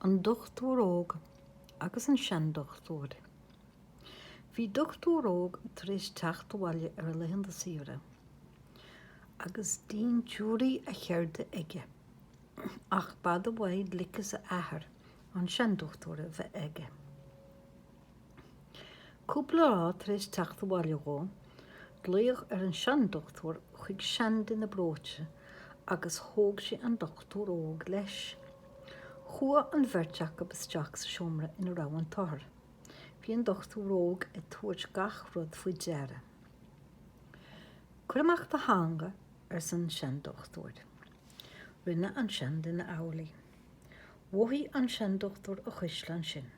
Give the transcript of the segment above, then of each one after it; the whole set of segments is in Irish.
An Dochtúir Óg agus an Seandochtúir Bhí dochtúir óg tar éis teacht abhaile ar a laethanta saoire agus dintiúirí a cheirde aige, ach b'fhada uaidh gliceas a athar, an Seandochtúir, a bheith aige. Cúpla lá tar éis teacht abhaile dhó, glaodh ar an seandochtúir chuig seanduine breoite agus thóg sé an dochtúir óg leis. Chuaigh an bheirt acu isteach sa seomra ina raibh an t-othar. Bhí an dochtúir óg ag tabhairt gach rud faoi deara. Cuir amach do theanga, arsa an seandochtúir. Rinne an seanduine amhlaidh. Mhothaigh an seandochtúir a chuisle ansin.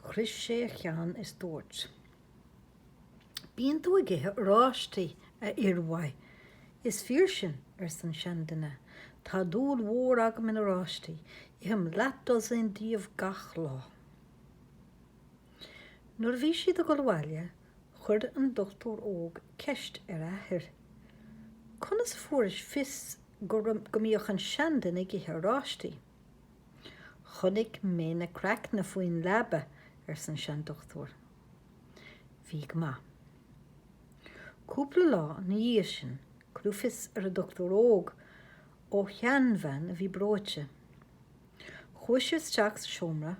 Chroith sé a cheann is dúirt. Bíonn tú ag ithe oráistí, a fhir mhaith. Is fíor sin, arsa an seanduine. Tá dúil mhór agam in oráistí, ithim leathdhosaen díobh gach lá. Nuair a bhí siad ag dul abhaile, chuir an dochtúir óg ceist ar a athair, Conas a fuairis fios go mbíodh an seanduine ag ithe oráistí? 'Chonaic mé na craicne faoin leaba, arsa an seandochtúir. 'Bhí go maith. Cúpla lá ina dhiaidh sin cuireadh fios ar an dochtúir óg ó sheanbhean a bhí breoite. Chuaigh sé isteach sa seomra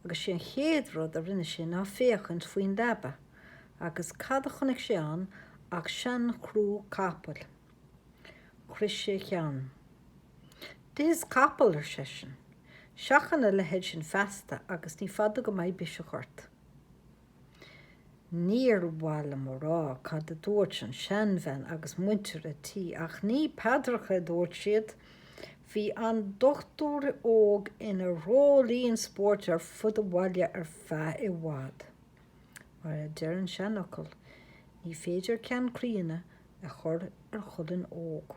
agus sé an chéad rud a rinne sé ná féachaint faoin leaba, agus cad a chonaic sé ann ach seanchrú capaill. Chroith sé a cheann. D'ithis capall, ar seisean. Seachain a leithéid sin feasta agus ní fada go mbeidh biseach ort. Níor mhaith liom a rá cad a dúirt an seanbhean agus muintir an tí, ach ní paidreacha a dúirt siad. Bhí an dochtúir óg ina dhreoilín spóirt ar fud an bhaile ar feadh i bhfad. Mar a deir an seanfhocal, ní féidir ceann críonna a chur ar cholainn óg.